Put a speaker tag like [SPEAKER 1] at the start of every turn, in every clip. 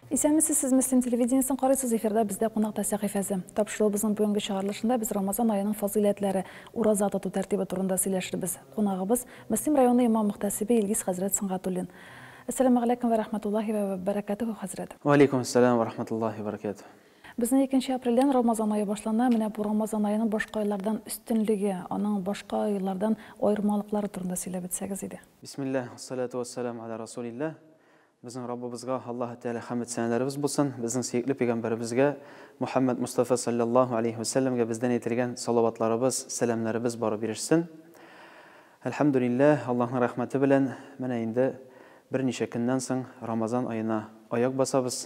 [SPEAKER 1] Исәнмесез, сез Мөслим телевидениесен карыйсыз, эфирда бездә кунакта сәхифәсе. Тапшырылыбызның бүгенге чыгарылышында без Рамазан аеның фазыйләтләре, ураза тоту тәртибе турында сөйләшербез. Кунагыбыз Мөслим районы имам мөхтәсибе Илгиз хәзрәт Сөнгатуллин. Әссәламәгаләйкүм вә рәхмәтуллаһи вә бәрәкәтүһү, хәзрәт. Вә алейкүм әссәләм вә
[SPEAKER 2] рәхмәтуллаһи вә бәрәкәтүһү. Безнең икенче
[SPEAKER 1] апрельдән Рамазан ае башлана, менә бу Рамазан аеның башка айлардан өстенлеге, аның башка айлардан аермалыклары турында сөйләп үтсәгез иде. Бисмилләһ, уәссәлатү
[SPEAKER 2] уәссәләм галә расулилләһ. Безнең Раббыбызга, Аллаһы Тәгалә хәмед-сәнәләребез булсын, безнең сөекле пәйгамбәребезгә, Мухәммәд Мостафа салләллаһу аләйһи вә сәлләмгә бездән әйтелгән салаватларыбыз, сәламнәребез барып ирешсен. Әлхәмдүлилләһ, Аллаһның рәхмәте белән, менә инде берничә көннән соң Рамазан аена аяк басабыз.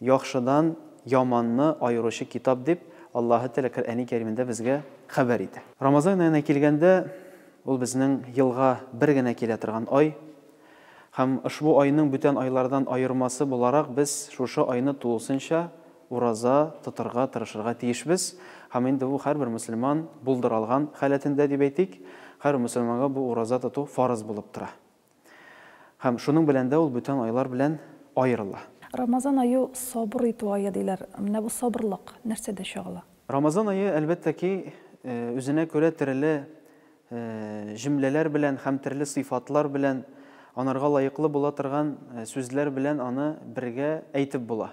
[SPEAKER 2] Яхшыдан яманны аеручы китап дип Аллаһы Тәгалә Коръәни Кәримендә безгә хәбәр итә. Рамазан аена килгәндә, ул безнең елга бер генә килә торган ай. Һәм ошбу айның бүтән айлардан аермасы буларак без шушы айны тулысынча ураза тотырга тырышырга тиешбез. Һәм инде бу һәрбер мөселман булдыра алган халәтендә дип әйтик, һәрбер мөселманга бу ураза тоту фарыз булып тора. Һәм шуның белән дә ул бүтән айлар белән аерыла. Рамазан ае
[SPEAKER 1] сабыр итү ае, диләр. Менә бу сабырлык нәрсәдә чагыла? Рамазан ае,
[SPEAKER 2] әлбәттә ки, үзенә күрә тереле җөмләләр белән һәм терле сыйфатлар белән, анарга лаеклы була торган сүзләр белән аны бергә әйтеп була.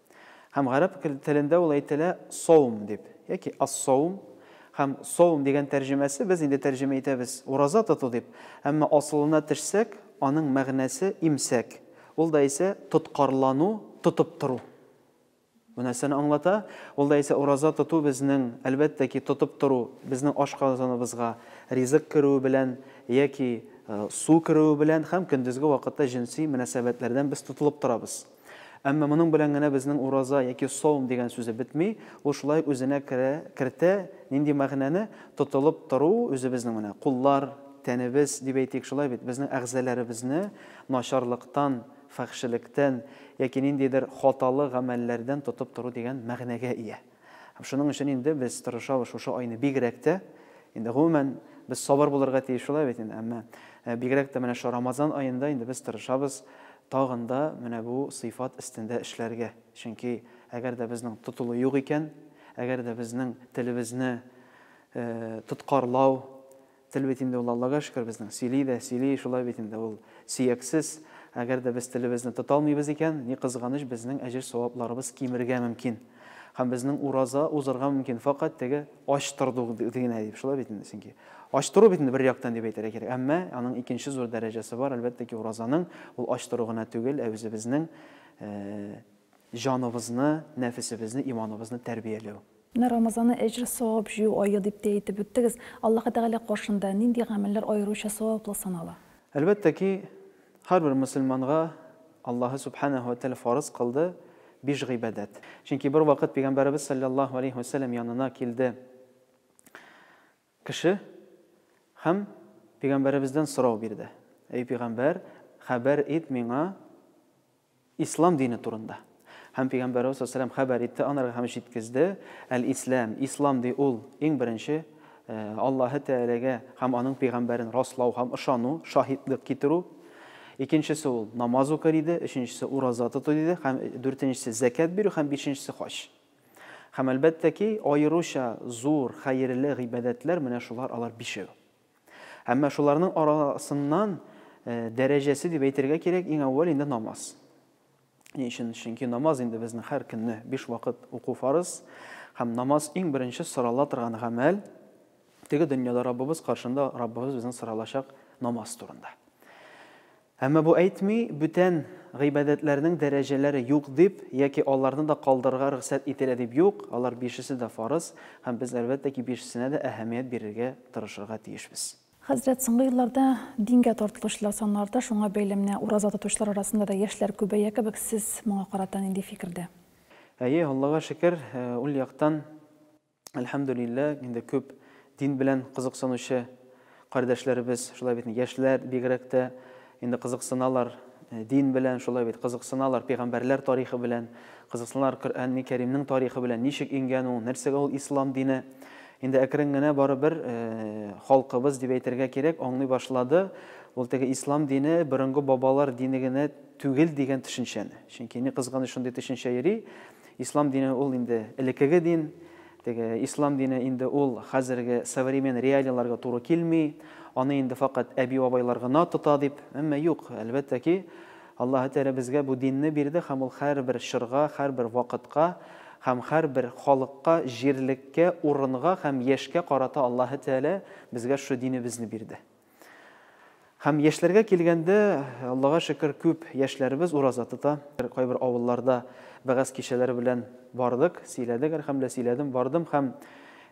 [SPEAKER 2] Һәм гарәп телендә ул әйтелә саум дип, яки ас-саум, һәм саум дигән тәрҗемәсе без инде тәрҗемә итәбез ураза тоту дип, әмма асылына төшсәк, аның мәгънәсе имсәк, ул да исә тоткарлану, тотып тору. Бу нәрсәне аңлата? Ул да исә ураза тоту безнең, әлбәттә ки, тотып тору, безнең ашказаныбызга ризык керүе белән яки су керүе белән һәм көндезге вакытта җенси мөнәсәбәтләрдән без тотылып торабыз. Әмма моның белән генә безнең ураза яки саум дигән сүзе бетми, ул шулай ук үзенә керә, кертә, нинди мәгънәне, тотылып тору, үзебезнең менә, куллар, тәнебез, дип әйтик, шулай бит, безнең әгъзаләребезне начарлыктан, фәхшелектән яки ниндидер хаталы гамәлләрдән тотып тору дигән мәгънәгә ия. Һәм шуның өчен инде без тырышабыз шушы айны бигрәк тә. Инде гомумән без сабыр булырга тиеш шулай бит инде, әмма э, бигрәк тә менә шу Рамазан аенда инде без тырышабыз тагын да менә бу сыйфат өстендә эшләргә. Чөнки әгәр дә безнең тотылу юк икән, әгәр дә безнең телебезне э, тоткарлау, Тел бит инде ул, Аллага шөкер, безнең, сөйли дә, сөйли, шулай бит инде, ул сөяксез. Әгәр дә без телебезне тота алмыйбыз икән, ни кызганыч, безнең әҗер-савапларыбыз кимергә мөмкин. Һәм безнең ураза узырга мөмкин, фәкать теге ач торду генә дип, шулай бит инде, чөнки ач тору бит инде бер яктан дип әйтергә кирәк. Әмма аның икенче зур дәрәҗәсе бар, әлбәттә ки, уразаның, ул ач тору гына түгел, ә үзебезнең җаныбызны, нәфесебезне, иманыбызны тәрбияләү. Менә Рамазаны
[SPEAKER 1] әҗр, савап җыю ае дип тә әйтеп үттегез. Аллаһы Тәгалә каршында нинди гамәлләр аеруча саваплы санала? Әлбәттә ки,
[SPEAKER 2] һәрбер мөселманга Аллаһы Сүбхәнәһү вә Тәгалә фарыз кылды биш гыйбадәт. Чөнки бервакыт Пәйгамбәребез салләллаһу галәйһи вә сәлләм янына килде. Кеше һәм пигамбәребездән сорау бирде, Әй пигамбәр, хәбәр ит миңа Ислам дине турында. Һәм пигамбәребез саллаллаһу галәйһи ва сәлләм хәбәр итте анарга һәм җиткезде, Әл-Исләм, Ислам ди ул, иң беренче, Аллаһы Тәгаләгә һәм аның пигамбәрен раслау һәм ышану, шаһитлык китерү. Икенчесе ул, намаз укы диде, өченчесе, ураза тоту диде, һәм дүртенчесе, зәкят бирү һәм бишенчесе, хаҗ. Һәм, әлбәттә ки, аеруча зур, хәерле гыйбадәтләр менә шулар, алар бишәү. Әмма шуларның арасыннан дәрәҗәсе дип әйтергә кирәк, иң әүвәл инде намаз. Ни өчен? Чөнки намаз инде безнең һәр көнне биш вакыт уку фарыз, һәм намаз иң беренче сорала торган гамәл. Теге дөньяда Раббыбыз каршында Раббыбыз безнең соралачак намаз турында. Әмма бу әйтми, бүтән гыйбадәтләрнең дәрәҗәләре юк дип, яки аларны да калдырырга рөхсәт ителә дип юк, алар бишесе дә фарыз, һәм без, әлбәттә ки, бишесенә дә әһәмият бирергә тырышырга тиешбез. Хәзрәт, соңгы
[SPEAKER 1] елларда дингә тартылучылар саны арта, шуңа бәйле менә ураза тотучылар арасында да яшьләр күбәя кебек, сез моңа карата нинди фикердә? Әйе,
[SPEAKER 2] Аллага шөкер, ул яктан Әлхәмдүлилләһ, инде күп дин белән кызыксынучы кардәшләребез, шулай бит, яшьләр бигрәк тә инде кызыксыналар дин белән, шулай бит, кызыксыналар пигамбәрләр тарихы белән, кызыксыналар Коръәнни Кәримнең тарихы белән, ничек иңгән ул, нәрсәгә ул ислам дине. Инде әкрен генә барыбер халкыбыз дип әйтергә кирәк, аңлый башлады ул теге ислам дине борынгы бабалар дине генә түгел дигән төшенчәне. Чөнки ни кызганыч шундый төшенчә йөри, Ислам дине ул инде элекеге дин, теге ислам дине инде ул хәзерге современ реалияләргә туры килми, аны инде факат әби-бабайлар гына тота дип, әмма юк, әлбәттә ки, Аллаһы Тәгалә безгә бу динне бирде һәм ул һәрбер чорга, һәрбер вакытка һәм һәрбер халыкка, җирлеккә, урынга һәм яшькә карата Аллаһы Тәгалә безгә шушы динебезне бирде. Һәм яшьләргә килгәндә, Аллага шөкер, күп яшьләребез ураза тота. Кайбер авылларда вәгазь кичәләре белән бардык, сөйләдек, әлхәмдүлилләһ, сөйләдем, бардым һәм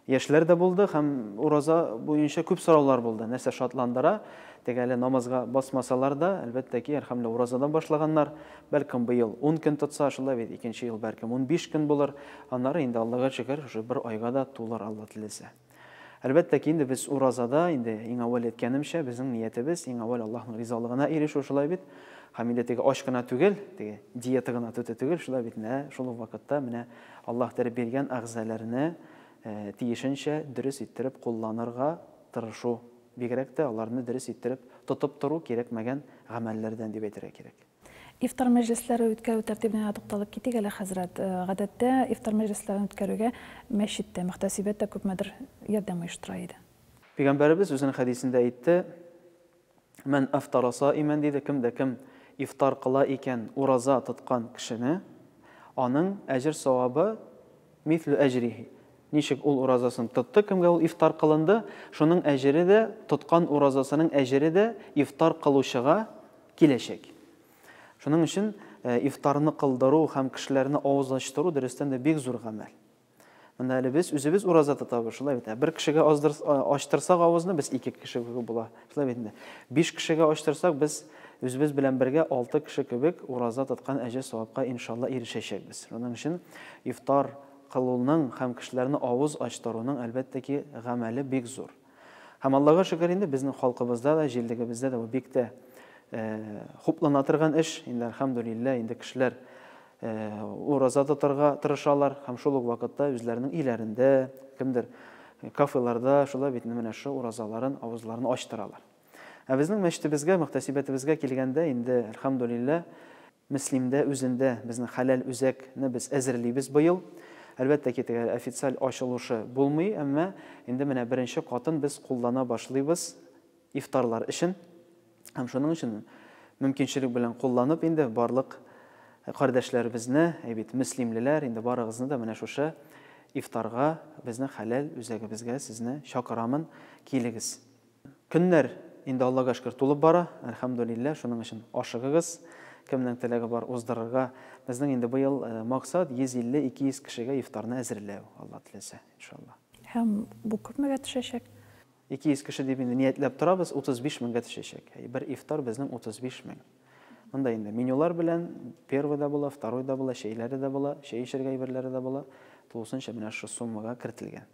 [SPEAKER 2] яшьләр дә булды һәм ураза буенча күп сораулар булды. Нәрсә шатландыра? Теге әле намазга басмасалар да, әлбәттә ки, әлхәмдүлилләһ, уразадан башлаганнар. Бәлкем быел 10 көн тотса, шулай бит, икенче ел бәлкем 15 көн булыр. Аннары инде, Аллага шөкер, шушы бер айга да тулыр, Алла теләсә. Әлбәттә ки, инде без уразада, инде иң әүвәл әйткәнемчә, безнең ниятебез иң әүвәл Аллаһның ризалыгына ирешү, шулай бит? Һәм инде теге ач кына түгел, теге диета гына төте түгел, шулай бит? Менә шул ук вакытта менә Аллаһ биреп биргән әгъзаларны тиешенчә дөрес иттереп кулланырга тырышу, бигрәк тә аларны дөрес иттереп тотып тору кирәкмәгән гамәлләрдән дип әйтергә кирәк. Ифтар
[SPEAKER 1] мәҗлесләре үткәрү тәртибенә дә тукталып китик әле, хәзрәт. Гадәттә, ифтар мәҗлесләрен үткәрүгә мәчет тә, мөхтәсибәт тә күпмедер ярдәм оештыра иде. Пәйгамбәребез үзенең
[SPEAKER 2] хәдисендә әйтте, Мән афтара саимән, диде, кем дә кем ифтар кыла икән ураза тоткан кешене, аның әҗер-савабы мислү әҗрихи, Ничек ул уразасын тотты, кемгә ул ифтар кылынды, шуның әҗере дә, тоткан уразасының әҗере дә ифтар кылучыга киләчәк. Шуның өчен ифтарны кылдыру һәм кешеләрне авыз ачтыру дөрестән дә бик зур гамәл. Монда әле без үзебез ураза тотабыз, шулай бит. Бер кешегә аздыр, ачтырсак авызны, без ике кеше кебек була. Шулай бит инде. Биш кешегә ачтырсак, без үзебез белән бергә алты кеше кебек ураза тоткан әҗе савапка иншалла ирешәчәкбез. Шуның өчен ифтар кылуның һәм кешеләрне авыз ачтыруның, әлбәттә ки, гамәле бик зур. Һәм Аллага шөкер инде, безнең халкыбызда да, җирлегебездә дә бу бик тә хуплана торган эш. Инде, әлхәмдүлилләһ, инде кешеләр ураза тотарга тырышалар һәм шул ук вакытта үзләренең өйләрендә, кемдер кафеларда шулай бит менә шул уразаларын, авызларын ачтыралар. Ә безнең мәчетебезгә, мөхтәсибәтебезгә килгәндә, инде, әлхәмдүлилләһ, Мөслимдә үзендә безнең Хәләл үзәк не без әзерлибез быел. Әлбәттә ки, теге официаль ачылышы булмый, әмма инде менә беренче катын без куллана башлыйбыз ифтарлар өчен. Һәм шуның өчен мөмкинчелек белән кулланып инде барлык кардәшләребезне, әй бит, мөслимлеләр, инде барыгызны да менә шушы ифтарга, безнең Хәләл үзәгебезгә сезне чакырамын, килегез. Көннәр инде Аллага шөкер тулып бара, әлхәмдүлилләһ, шуның өчен ашыгыгыз, кемнең теләге бар, уздырырга. Безнең инде быел максат 150-200 кешегә ифтарны әзерләү, Алла теләсә, иншалла. Һәм бу
[SPEAKER 1] күпмегә төшәчәк? 200 кеше
[SPEAKER 2] дип инде ниятләп торабыз, 35 меңгә төшәчәк. Бер ифтар безнең 35 мең. Монда инде менюлар белән первый да була, второй да була, чәйләре дә була, чәй эчәргә әйберләре дә була. Тулысынча менә шушы суммага кертелгән.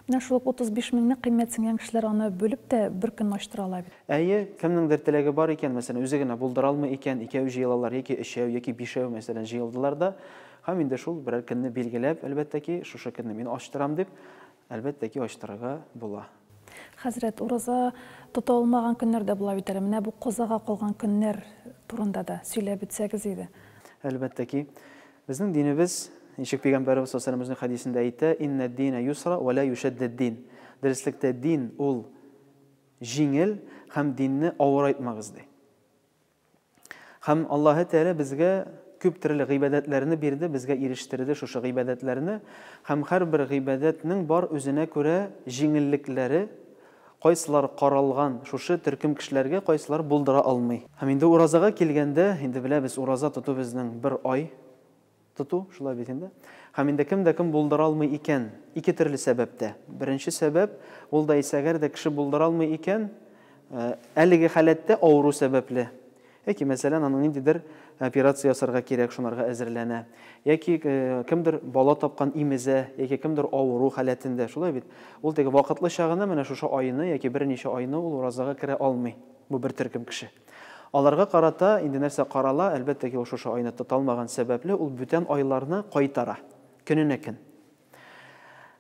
[SPEAKER 2] Менә шул ук 35
[SPEAKER 1] меңне кыйммәтсенгән кешеләр аны бүлеп тә бер көнне ачтыра ала бит. Әйе, кемнеңдер
[SPEAKER 2] теләге бар икән, мәсәлән, үзе генә булдыра алмый икән, икәү җыелалар, яки өчәү, яки бишәү, мәсәлән, җыелдылар да һәм инде шул берәр көнне билгеләп, әлбәттә ки, шушы көнне мин ачтырам дип, әлбәттә ки, ачтырырга була. Хәзрәт,
[SPEAKER 1] ураза тота алмаган көннәр дә була бит әле. Менә бу казага калган көннәр турында да сөйләп үтсәгез иде. Әлбәттә ки.
[SPEAKER 2] Безнең динебез, ничек Пәйгамбәребез саллаллаһу галәйһи ва сәлләмезнең хәдисендә әйтә, Иннәд дина юсра вә лә юшәддәд дин. Дөреслектә, дин ул җиңел һәм динне авырайтмагыз, ди. Һәм Аллаһы Тәгалә безгә күп төрле гыйбадәтләрне бирде, безгә ирештерде шушы гыйбадәтләрне. Һәм һәрбер гыйбадәтнең бар үзенә күрә җиңеллекләре. Кайсылары каралган шушы төркем кешеләргә, кайсылары булдыра алмый. Һәм инде уразага килгәндә, инде беләбез, ураза тоту безнең бер ай тоту, шулай бит инде. Һәм инде кем дә кем булдыра алмый икән, ике төрле сәбәптә. Беренче сәбәп, ул да исә әгәр дә кеше булдыра алмый икән, әлеге халәттә авыру сәбәпле, Яки, мәсәлән, аның ниндидер операция ясарга кирәк, шунарга әзерләнә. Яки кемдер бала тапкан имезә, яки кемдер авыру халәтендә, шулай бит? Ул теге вакытлыча гына менә шушы айны яки берничә айны ул уразага керә алмый, бу бер төркем кеше. Аларга карата инде нәрсә карала, әлбәттә ки, ул шушы айны тоталмаган сәбәпле, ул бүтән айларны кайтара, көненә көн.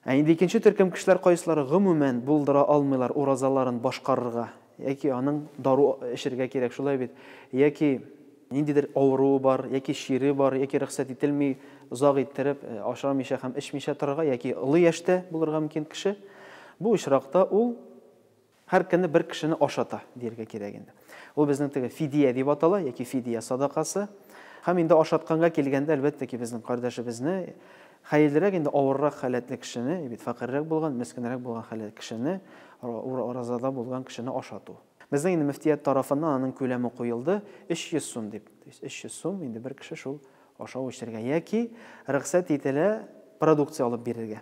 [SPEAKER 2] Ә инде икенче төркем кешеләр кайсылары гомумән булдыра алмыйлар уразаларын башкарырга, яки аның дару эчергә кирәк, шулай бит, яки ниндидер авыруы бар, яки чире бар, яки рөхсәт ителми озак иттереп э, ашамыйча һәм эчмичә торырга, яки олы яшьтә булырга мөмкин кеше, бу очракта ул Һәр көнне бер кешене ашата, дияргә кирәк инде. Ул безнең теге фидия дип атала, яки фидия садакасы. Һәм инде ашатканга килгәндә, әлбәттә ки, безнең кардәшебезне, хәерлерәк инде авыррак халәтле кешене, бит фәкыйрьрәк булган, мескенрәк булган халәт кешене, уразада булган кешене ашату. Безнең инде мөфтият тарафыннан аның күләме куелды, 300 сум дип. То есть 300 сум инде бер кеше шул ашау-эчәргә яки рөхсәт ителә продукция алып бирергә.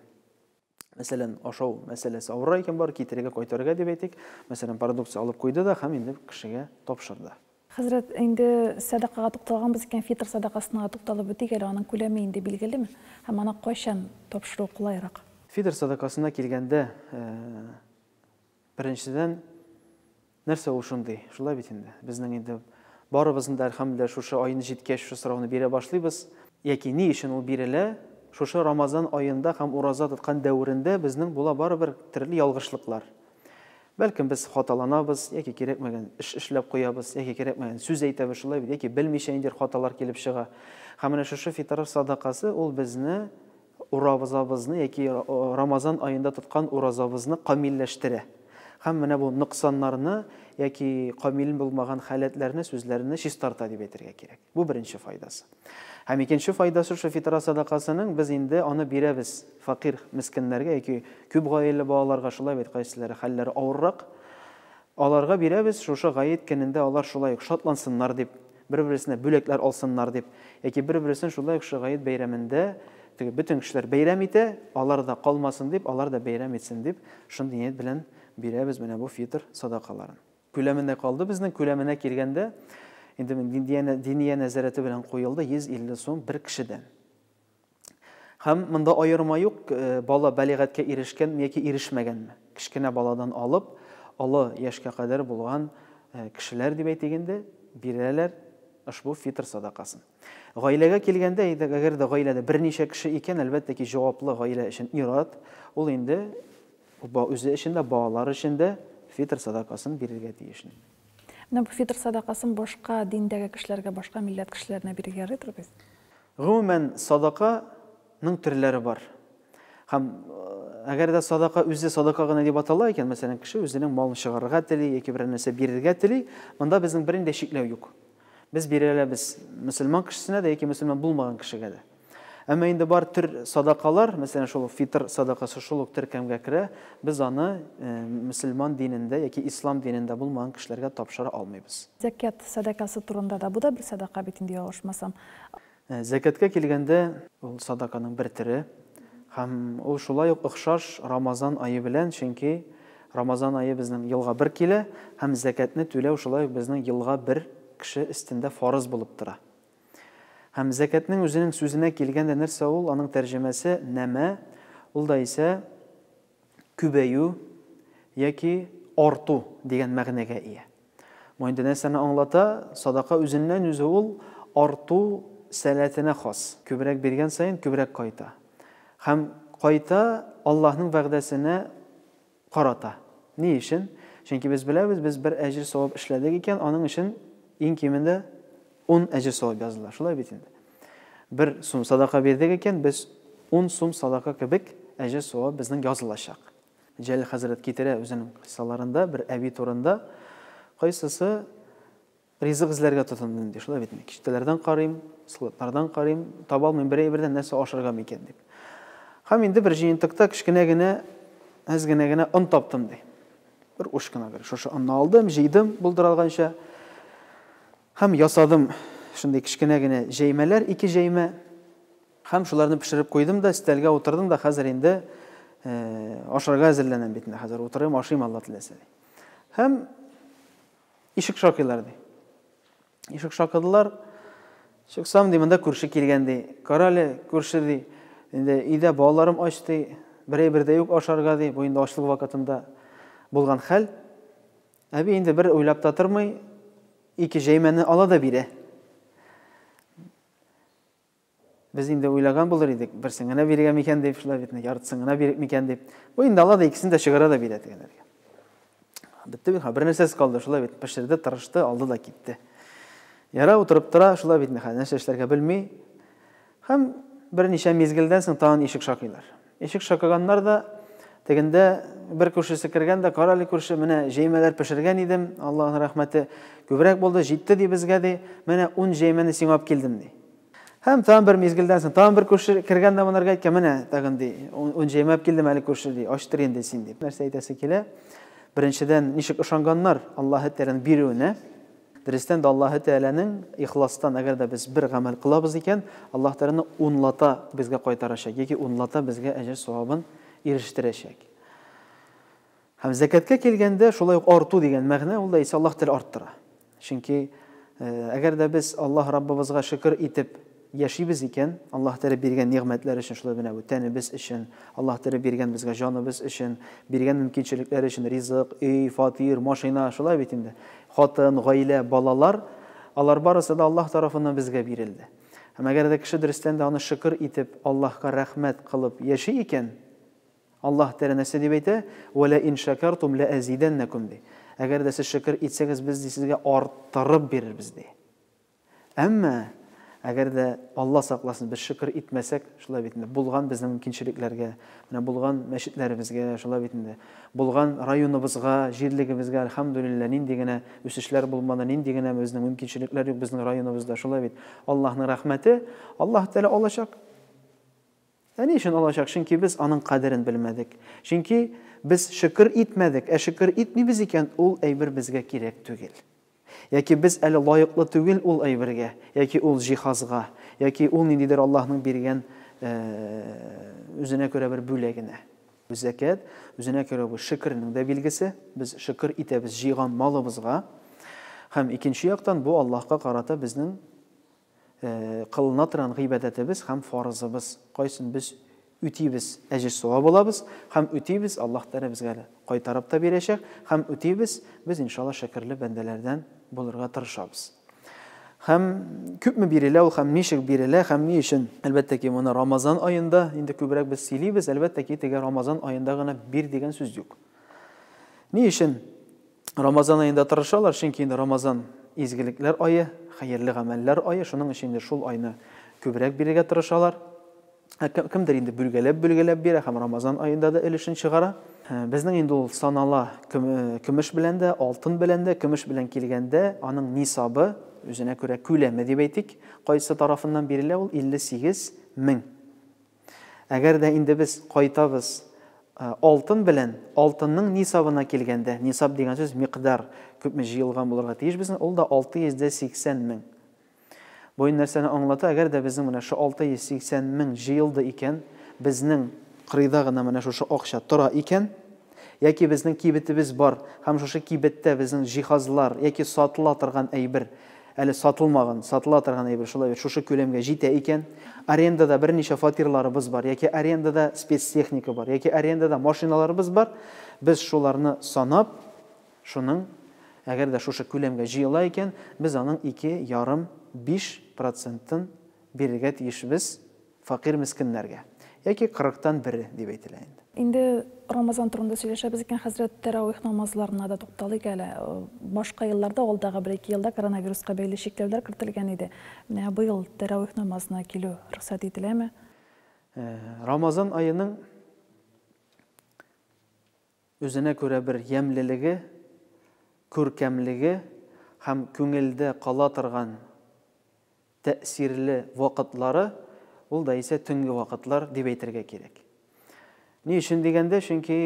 [SPEAKER 2] мәсәлән, ашау мәсьәләсе авыррак икән, бар китерергә, кайтарырга дип әйтик, мәсәлән, продукция алып куйды да һәм инде кешегә тапшырды. Хәзрәт, инде
[SPEAKER 1] сәдакага тукталганбыз икән, фитр сәдакасына тукталып үтик әле, аның күләме инде билгелеме һәм аны кайчан тапшыру кулайрак? Фитр сәдакасына
[SPEAKER 2] килгәндә, Беренчедән, нәрсә ул шундый? Шулай бит инде. Безнең инде барыбызны да, әлхәмдүлилләһ, шушы аен җиткәч, шушы сорауны бирә башлыйбыз. Яки ни өчен ул бирелә? Шушы Рамазан аенда һәм ураза тоткан дәверендә безнең була барыбер төрле ялгышлыклар. Бәлкем, без хаталанабыз, яки кирәкмәгән эш эшләп куябыз, яки кирәкмәгән сүз әйтәбез, шулай бит, яки белмичә ниндидер хаталар килеп чыга. Һәм менә шушы фитыр садакасы, ул безне Уразабызны яки Рамазан аенда тоткан уразабызны камилләштерә. Һәм менә бу ноксаннарны яки камил булмаган халәтләрне, сүзләрне чистарта дип әйтергә кирәк. Бу беренче файдасы. Һәм икенче файдасы шул фитра садакасының без инде аны бирәбез фәкыйрь мескеннәргә яки күп гаиләле балаларга шулай бит кайсылары хәлләре авыррак. Аларга бирәбез шушы гает көнендә алар шулай ук шатлансыннар дип. бер-берсенә бүләкләр алсыннар дип, яки бер-берсен шулай ук Шөгает бәйрәмендә теге бөтен кешеләр бәйрәм итә, алар да калмасын дип, алар да бәйрәм итсен дип, шундый ният белән бирәбез менә бу фитыр садакаларын. Күләменә калды безнең, күләменә килгәндә, инде Диния нәзарәте белән куелды, 150 сум бер кешедән. Һәм монда аерма юк, бала бәлигатькә ирешкәнме яки ирешмәгәнме. Кечкенә баладан алып, олы яшькә кадәр булган кешеләр дип әйтик инде, бирәләр ошбу фитр садакасын. Гаиләгә килгәндә, әгәр дә гаиләдә берничә кеше икән, әлбәттә ки, җаваплы гаилә өчен ир-ат, ул инде үзе өчен дә, балалар өчен дә фитр садакасын бирергә тиешни. Менә бу
[SPEAKER 1] фитр садакасын башка диндәге кешеләргә, башка милләт кешеләренә бирергә ярыйдыр бит? Гомумән,
[SPEAKER 2] садака ның төрләре бар. Һәм әгәр дә садака үзе садака гына дип атала икән, мәсәлән, кеше үзенең малын чыгарырга тели яки берәр нәрсә бирергә тели, монда безнең берни дә чикләү юк. Без бирә алабыз мөселман кешесенә дә яки мөселман булмаган кешегә дә. Әмма инде бар төр садакалар, мәсәлән, шул фитр садакасы шул ук теркәмгә керә, без аны мөселман динендә яки ислам динендә булмаган кешеләргә тапшыра алмыйбыз. Зәкят сәдакасы
[SPEAKER 1] турында да, бу да бер садака бит инде, ялгышмасам. Зәкәткә
[SPEAKER 2] килгәндә, ул садаканың бер төре һәм ул шулай ук охшаш Рамазан ае белән, чөнки Рамазан ае безнең елга бер килә һәм зәкәтне түләү шулай ук безнең елга бер кеше өстендә фарыз булып тора. Һәм зәкәтнең үзенең сүзенә килгәндә нәрсә ул, аның тәрҗемәсе, нәмә, ул да исә, күбәю яки арту дигән мәгънәгә ия. Бу инде нәрсәне аңлата? Садака үзеннән-үзе ул арту сәләтенә хас. Күбрәк биргән саен күбрәк кайта. Һәм кайта Аллаһның вәгъдәсенә карата. Ни өчен? Чөнки без беләбез, без бер әҗер-савап эшләдек икән, аның өчен иң кимендә Ун әҗер савап язылыр, шулай бит инде. Бер сум садака бирдек икән, без ун сум садака кебек әҗер савап безнең язылачак. Җәлил хәзрәт китерә үзенең кыйссаларында бер әби турында, кайсысы ризык эзләргә тотынды инде, шулай бит инде. Киштәләрдән карыйм, складлардан карыйм, таба алмыйм, бер әйбердән нәрсә ашарга микән дип. Һәм инде бер җыентыкта кечкенә генә, әз генә генә он таптым ди. Бер уч кына бер шушы онны алдым, җыйдым булдыралганча. Һәм ясадым шундый кечкенә генә җәймәләр, ике җәймә. Һәм шуларны пешереп куйдым да, өстәлгә утырдым да, хәзер инде ашарга әзерләнәм бит инде, хәзер утырыйм, ашыйм, Алла теләсә. Һәм ишек шакыйлар ди. Ишек шакыдылар. Чыксам ди, монда күрше килгән ди. Карале, күрше ди. Инде өйдә балаларым ач ди. Берәй бердә юк ашарга ди. Бу инде ачлык вакытында булган хәл. Әби инде бер уйлап та тормый, ике җәймәне ала да бирә. Без инде уйлаган булыр идек, берсен генә биргән микән дип, шулай бит, яртысын гына бирик микән дип. Бу инде ала да икесен дә чыгара да бирә дигәннәргә. Бетте бит, бер нәрсәсез калды, шулай бит, пешерде, тырышты, алды да китте. Яра утырып тора, шулай бит, нәрсә эшләргә белми. Һәм берничә мизгелдән соң тагын ишек шакыйлар. Ишек шакыганнар да, тегендә бер күршесе кергән дә, Кара әле, күрше, менә җәймәләр пешергән идем, Аллаһның рәхмәте күбрәк булды, җитте, ди, безгә, ди, менә ун җәймәне сиңа алып килдем, ди. Һәм тагын бер мизгелдән соң тагын бер күрше кергән дә монарга әйткән, менә тагын, ди, ун җәймә алып килдем әле, күрше, ди, ачтыр инде син, дип. Нәрсә әйтәсе килә? Беренчедән, ничек ышанганнар Аллаһы Тәгаләнең бирүенә? Дөрестән дә Аллаһы Тәгаләнең ихластан, әгәр дә без бер гамәл кылабыз икән, Аллаһы Тәгаләне унлата безгә кайтарачак яки унлата безгә әҗер-савабын ирештерәчәк. Һәм зәкәткә килгәндә, шулай ук арту дигән мәгънә, ул да исә Аллаһ Тәгалә арттыра. Чөнки әгәр дә без Аллаһ Раббыбызга шөкер итеп, Яшибез икән, Аллаһ Тәгалә биргән нигъмәтләр өчен, шулай менә бу тәнебез өчен, Аллаһ Тәгалә биргән безгә җаныбыз өчен, биргән мөмкинчелекләр өчен, ризык, өй, фатир, машина, шулай бит инде. Хатын, гаилә, балалар, алар барысы да Аллаһ тарафыннан безгә бирелде. Һәм әгәр дә кеше дөрестән дә аны шөкер итеп, Аллаһка рәхмәт кылып яши икән, Аллаһ Тәгалә нәрсә дип әйтә? Вә лә ин шәкәртүм лә әзидәннәкүм, ди. Әгәр дә сез шөкер итсәгез, без, ди, сезгә арттырып бирербез, ди. Әмма, әгәр дә, Алла сакласын, без шөкер итмәсәк, шулай бит инде, булган безнең мөмкинчелекләргә, менә булган мәчетләребезгә, шулай бит инде, булган районыбызга, җирлегебезгә, әлхәмдүлилләһ, нинди генә үсешләр булмады, нинди генә безнең мөмкинчелекләр юк безнең районыбызда, шулай бит. Аллаһның рәхмәте, Аллаһы Тәгалә алачак. Ә ни өчен алачак? Чөнки без аның кадерен белмәдек. Чөнки без шөкер итмәдек. Ә шөкер итмибез икән, ул әйбер безгә кирәк түгел. Яки без әле лаеклы түгел ул әйбергә, яки ул җиһазга, яки ул ниндидер Аллаһның биргән үзенә күрә бер бүләгенә. Бу зәкят, үзенә күрә бу шөкернең дә билгесе. Без шөкер итәбез җыйган малыбызга. Һәм икенче яктан, бу Аллаһка карата безнең кылына торган гыйбадәтебез һәм фарызыбыз, кайсын без үтибез, әҗер-савап алабыз һәм үтибез, Аллаһ Тәгалә безгә әле кайтарып та бирәчәк һәм үтибез, без иншалла шөкерле бәндәләрдән булырга тырышабыз. Һәм күпме бирелә ул һәм ничек бирелә һәм ни өчен? Әлбәттә ки, моны Рамазан аенда инде күбрәк без сөйлибез, әлбәттә ки, теге Рамазан аенда гына бир дигән сүз юк. Ни өчен? Рамазан аенда тырышалар, чөнки инде Рамазан изгелекләр ае, хәерле гамәлләр ае, шуның өчен инде шул айны күбрәк бирергә тырышалар. Ә кемдер инде бөлгәләп-бөлгәләп бирә һәм Рамазан аенда да өлешен чыгара. Безнең инде ул санала көмеш белән дә, алтын белән дә, көмеш белән килгәндә, аның нисабы, үзенә күрә күләме дип әйтик, кайсы тарафыннан бирелә ул 58 мең. Әгәр дә инде без кайтабыз алтын белән, алтынның нисабына килгәндә, нисаб дигән сүз микъдар, күпме җыелган булырга тиеш безнең, ул да 680 мең. Бу инде нәрсәне аңлата, әгәр дә безнең менә шушы 680 мең җыелды икән, безнең кырыйда гына менә шушы акча тора икән, яки безнең кибетебез бар һәм шушы кибеттә безнең җиһазлар яки сатыла торган әйбер Әле сатылмаган, сатыла торган әйбер шулай бит, шушы күләмгә җитә икән. Арендада берничә фатирларыбыз бар, яки арендада спецтехника бар, яки арендада машиналарыбыз бар. Без шуларны санап, шуның, әгәр дә шушы күләмгә җыела икән, без аның ике ярым, биш процентын бирергә тиешбез. Фәкыйрь мескеннәргә. Яки кырыктан бере, дип әйтелә инде. Инде Рамазан
[SPEAKER 1] турында сөйләшәбез икән, хәзрәт, тәравих намазларына да тукталыйк әле. Башка елларда, алдагы бер-ике елда коронавируска бәйле чикләүләр кертелгән иде. Менә быел тәравих намазына килү рөхсәт ителәме?
[SPEAKER 2] Рамазан аеның Үзенә күрә бер ямьлелеге, күркәмлеге һәм күңелдә кала торган тәэсирле вакытлары, ул да исә төнге вакытлар дип әйтергә кирәк. Ни өчен дигәндә, чөнки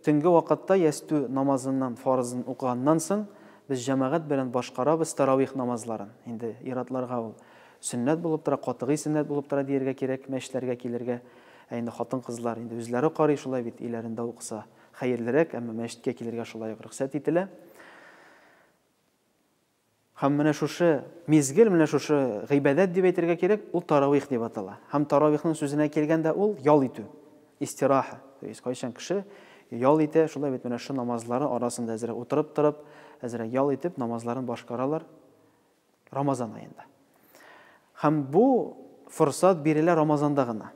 [SPEAKER 2] төнге вакытта ястү намазыннан, фарызын укыганнан соң, без җәмәгать белән башкарабыз тәравих намазларын. Инде ир-атларга ул сөннәт булып тора, катгый сөннәт булып тора диергә кирәк, мәчетләргә килергә. Ә инде хатын-кызлар инде үзләре карый шулай бит, өйләрендә укыса хәерлерәк, әмма мәчеткә килергә шулай ук рөхсәт ителә. Һәм менә шушы мизгел, менә шушы гыйбадәт дип әйтергә кирәк, ул таравих дип атала. Һәм таравихның сүзенә килгәндә ул ял итү, истираха. То есть кайчан кеше ял итә, шулай бит менә шу намазлары арасында әзрәк утырып торып, әзрәк ял итеп намазларын башкаралар. Рамазан аенда. Һәм бу форсат бирелә Рамазанда гына.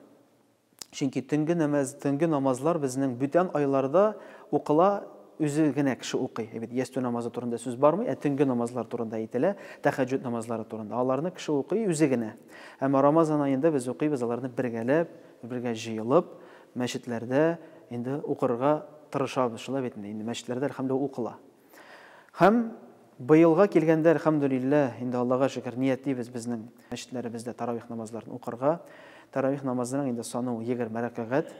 [SPEAKER 2] Чөнки төнге намаз, төнге намазлар безнең бүтән айларда укыла, үзе генә кеше укый. Әйбит, ястү намазы турында сүз бармый, ә төнге намазлар турында әйтелә, тәхәҗҗүд намазлары турында. Аларны кеше укый үзе генә. Әмма Рамазан аенда без укыйбыз аларны бергәләп, бергә җыелып, мәчетләрдә инде укырга тырышабыз. Шулай бит инде, мәчетләрдә, әлхәмдулилла, укыла. Һәм быелга килгәндә, әлхәмдүлилләһ, инде Аллага шөкер, ниятлибез безнең мәчетләребездә таравих намазларын укырга. Таравих намазының инде саны ул егерме рәкәгать,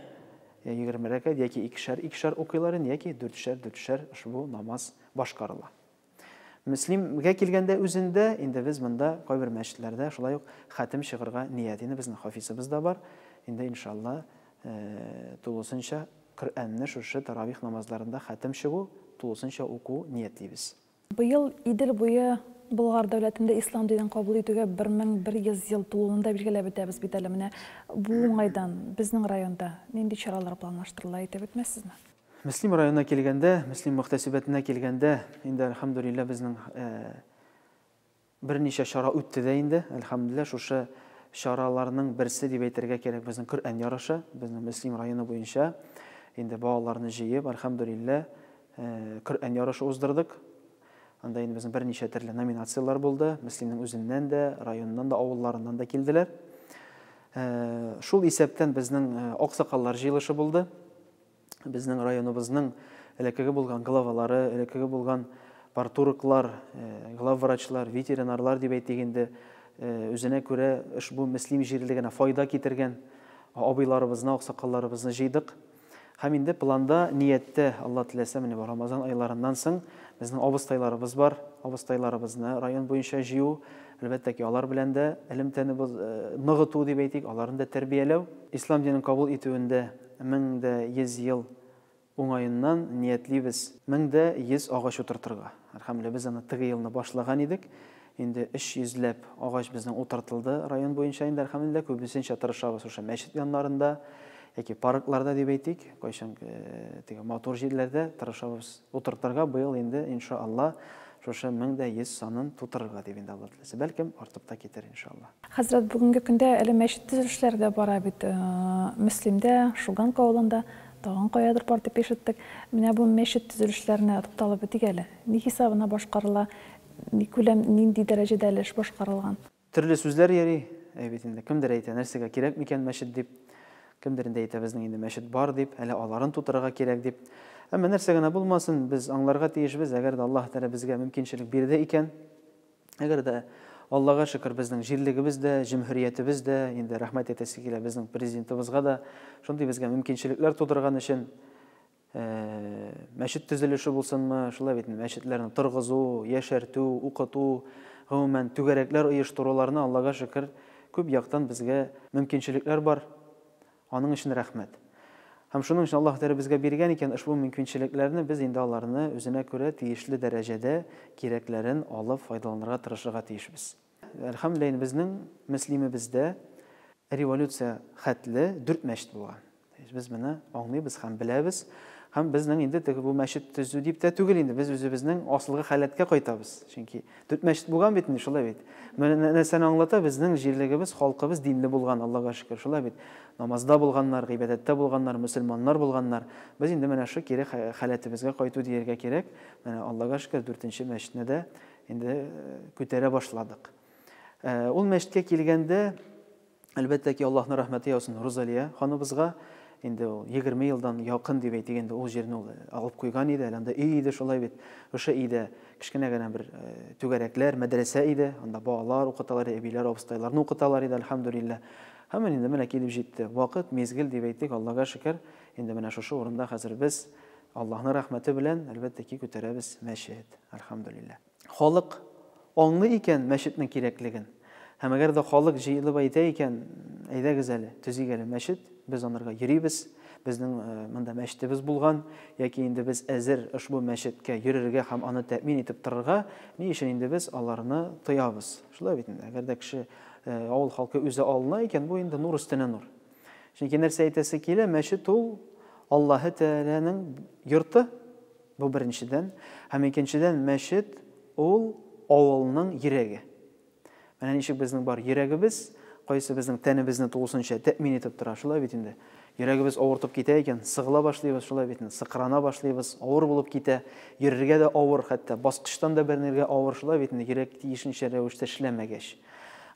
[SPEAKER 2] егерме рәкәгать яки икешәр, икешәр укыйлар инде, яки дүртшәр, дүртшәр ошбу намаз башкарыла. Мөслимгә килгәндә үзендә, инде без монда кайбер мәчетләрдә шулай ук хәтем чыгырга ният. Инде безнең хафизыбыз да бар, инде иншалла, Тулысынча Коръәнне шушы таравих намазларында хәтем чыгу, тулысынча уку ниятлибез. Быел Идел
[SPEAKER 1] буе Болгар дәүләтендә ислам динен кабул итүгә 1100 ел тулуын да билгеләп үтәбез бит әле. Менә бу уңайдан безнең районда нинди чаралар планлаштырыла, әйтеп үтмәссезме? Мөслим районына
[SPEAKER 2] килгәндә, Мөслим мөхтәсибәтенә килгәндә, инде, әлхәмдүлилләһ, безнең Берничә чара үтте дә инде, әлхәмдүлилләһ, шушы чараларның берсе дип әйтергә кирәк, безнең Коръән ярышы, безнең Мөслим районы буенча инде балаларны җыеп, әлхәмдүлилләһ, Коръән ярышы уздырдык. Анда инде безнең берничә төрле номинацияләр булды, Мөслимнең үзеннән дә, районыннан да, авылларыннан да килделәр. Шул исәптән безнең аксакаллар җыелышы булды. безнең районыбызның элеккеге булган главалары, элеккеге булган партурыклар, главврачлар, ветеринарлар дип әйтик инде, үзенә күрә ошбу Мөслим җирлегенә файда китергән абыйларыбызны, аксакалларыбызны җыйдык. Һәм инде планда, нияттә, Алла теләсә, менә бу Рамазан айларыннан соң безнең абыстайларыбыз бар. Абыстайларыбызны район буенча җыю, әлбәттә ки, алар белән дә элемтәне ныгыту дип әйтик, аларны да тәрбияләү. Ислам динен кабул итүендә Мең дә йөз ел уңаеннан ниятлибез. Мең дә йөз агач утыртырга. Әлхәмле, без аны теге елны башлаган идек. Инде өч йөзләп агач безнең утыртылды район буенча инде, әлхәмлеллә. Күбесенчә тырышабыз шушы мәчет яннарында яки паркларда дип әйтик, кайчан теге матур җирләрдә тырышабыз утыртырга. Быел инде, иншаАлла, Шушы мең дә йөз санын тутырырга дип инде Алла теләсә. Бәлкем, артып та китер, иншалла. Хәзрәт, бүгенге көндә
[SPEAKER 1] әле мәчет төзелешләре дә бара бит. Мөслимдә, Шуганка авылында, тагын каядыр бар дип ишеттек. Менә бу мәчет төзелешләренә тукталып үтик әле. Ни хисабына башкарыла, никүләм, нинди дәрәҗәдә әле эш башкарылган? Төрле сүзләр
[SPEAKER 2] йөри, әй бит инде, кемдер әйтә, нәрсәгә кирәк микән мәчет дип, кемдер инде әйтә, безнең инде мәчет бар дип, әле аларын тутырырга кирәк дип. Әмма нәрсә генә булмасын, без аңларга тиешбез, әгәр дә Аллаһ Тәгалә безгә мөмкинчелек бирде икән, әгәр дә, Аллага шөкер, безнең җирлегебез дә, җөмһүриятебез дә, инде рәхмәт әйтәсе килә безнең Президентыбызга да, шундый безгә мөмкинчелекләр тудырган өчен, мәчет төзелеше булсынмы, шулай бит, мәчетләрне торгызу, яшәртү, укыту, гомумән, түгәрәкләр оештыруларны, Аллага шөкер, күп яктан безгә мөмкинчелекләр бар. Аның өчен рәхмәт. Һәм шуның өчен Аллаһ Тәгалә безгә биргән икән ошбу мөмкинчелекләрне, без инде аларны үзенә күрә тиешле дәрәҗәдә кирәкләрен алып файдаланырга тырышырга тиешбез. Әлхәмдүлилләһ, инде безнең мөслимебездә революция хәтле дүрт мәчет булган. Без моны аңлыйбыз һәм беләбез. Һәм безнең инде теге бу мәчет төзү дип тә түгел инде, без үзебезнең асылгы халәткә кайтабыз. Чөнки дүрт мәчет булган бит инде, шулай бит. Менә нәрсәне аңлата, безнең җирлегебез, халкыбыз динле булган, Аллага шөкер, шулай бит. Намазда булганнар, гыйбадәттә булганнар, мөселманнар булганнар. Без инде менә шул кире халәтебезгә кайту дияргә кирәк. Менә Аллага шөкер, дүртенче мәчетне дә Инде күтәрә башладык. Ул мәчеткә килгәндә, әлбәттә ки, Аллаһның рәхмәте яусын Рузалия ханыбызга. Инде ул 20 елдан якын дип әйтик, инде ул җирне ул алып куйган иде, әле анда өй иде шулай бит. Ошо өйдә кечкенә генә бер түгәрәкләр, мәдрәсә иде. Анда балалар укыталар, әбиләр, абыстайларны укыталар иде, альхамдулиллаһ. Һәм инде менә килеп җитте. Вакыт, мизгел дип әйтик, Аллага шөкер, инде менә шушы урында хәзер без Аллаһның рәхмәте белән, әлбәттә ки, күтәрәбез мәчет, әлхәмдүлилләһ. Халык аңлый икән мәчетнең кирәклеген. Һәм әгәр дә халык җыелып әйтә икән, әйдәгез әле, төзик әле мәчет, без анырга йөрибез, безнең э, монда мәчетебез булган, яки инде без әзер ошбу мәчеткә йөрергә һәм аны тәэмин итеп торырга, ни өчен инде без аларны тоябыз? Шулай бит инде. Әгәр дә кеше э, авыл халкы үзе алына икән, бу инде нур өстенә нур. Чөнки нәрсә әйтәсе килә, мәчет ул Аллаһы Тәгаләнең йорты. Бу беренчедән, һәм икенчедән мәчет ул авылның йөрәге. Менә ничек безнең бар йөрәгебез, кайсы безнең тәнебезне тулысынча тәэмин итеп тора, шулай бит инде. Йөрәгебез авыртып китә икән, сыгыла башлыйбыз, шулай бит инде. Сыкрана башлыйбыз, авыр булып китә. Йөрергә дә авыр, хәтта баскычтан да бәрнергә авыр, шулай бит инде. Йөрәк тиешенчә рәвештә эшләмәгәч.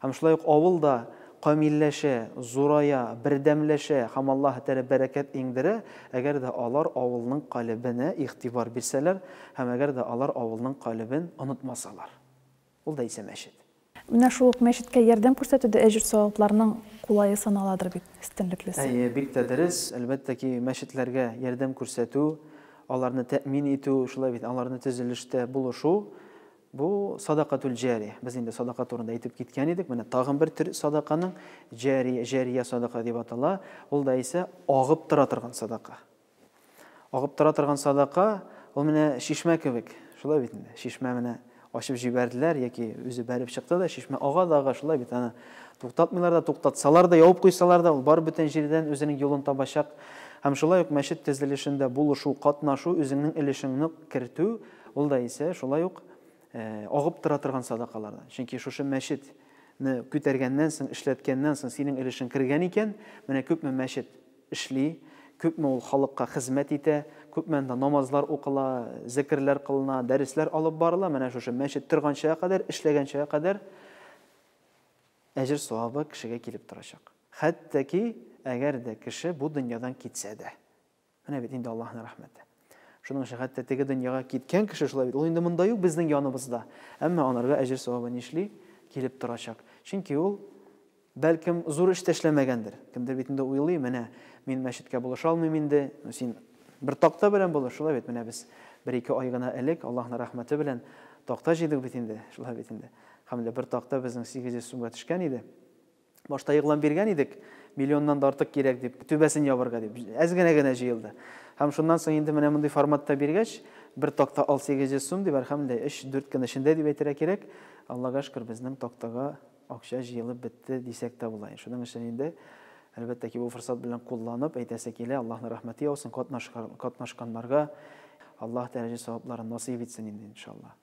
[SPEAKER 2] Һәм шулай ук авыл да камилләшә, зурая, бердәмләшә һәм Аллаһы Тәгалә бәрәкәт иңдерә, әгәр дә алар авылның калебенә игътибар бирсәләр һәм әгәр дә алар авылның калебен онытмасалар. Ул да исә мәчет. Менә шул ук
[SPEAKER 1] мәчеткә ярдәм күрсәтү дә әҗер-савапларның кулае саналадыр бит, өстенлеклесе. Әйе, бик тә дөрес.
[SPEAKER 2] Әлбәттә ки, мәчетләргә ярдәм күрсәтү, аларны тәэмин итү, шулай бит, аларны төзелештә булышу, Бу, садакатүл җари. Без инде садака турында әйтеп киткән идек. Менә тагын бер төр садаканың, җари, җария садака дип атала. Ул да исә агып тора торган садака. Агып тора торган садака, ул менә чишмә кебек. Шулай бит инде. Чишмә менә ачып җибәрделәр яки үзе бәреп чыкты да, чишмә ага да ага, шулай бит. Аны туктатмыйлар да, туктатсалар да, ябып куйсалар да, ул барып бүтән җирдән үзенең юлын табачак. Һәм шулай ук мәчет төзелешендә булышу, катнашу, үзеңнең өлешеңне кертү, Ул да исә шулай ук агып тора торган садакалардан. Чөнки шушы мәчет не күтәргәннән соң, эшләткәннән соң синең өлешең кергән икән, менә күпме мәчет эшли, күпме ул халыкка хезмәт итә, күпме анда намазлар укыла, зекерләр кылына, дәресләр алып барыла, менә шушы мәчет торганчага кадәр, эшләгәнчәгә кадәр әҗер савабы кешегә килеп торачак. Хәтта ки, әгәр дә кеше бу дөньядан китсә дә. Менә бит инде Аллаһның рәхмәте. Шуның өчен хәтта теге дөньяга киткән кеше шулай бит. Ул инде монда юк, безнең яныбызда. Әмма анарга әҗер савабы нишли? Килеп торачак. Чөнки ул бәлкем зур эш тәшләмәгәндер. Кемдер бит инде уйлый, менә мин мәчеткә булыша алмыйм инде. Ну син бер такта белән булыш, шулай бит. Менә без бер-ике ай гына элек Аллаһның рәхмәте белән такта җыйдык бит инде, шулай бит инде. Хәмле бер такта безнең 800 сумга төшкән иде. Башта игълан биргән идек, миллионнан да артык кирәк дип, түбәсен ябарга дип. Әз генә генә җыелды. Һәм шуннан соң инде менә мондый форматта биргәч, бер такта ал 800 сум дип, әлхәмдүлилләһ, 3-4 көн эчендә дип әйтергә кирәк, Аллага шөкер, безнең тактага акча җыелып бетте, дисәк тә була. Шуның өчен инде, әлбәттә ки, бу форсат белән кулланып, әйтәсе килә, Аллаһның рәхмәте яусын, катнашканнарга Аллаһ дәрәҗә-савапларын насыйп итсен инде, иншаллаһ.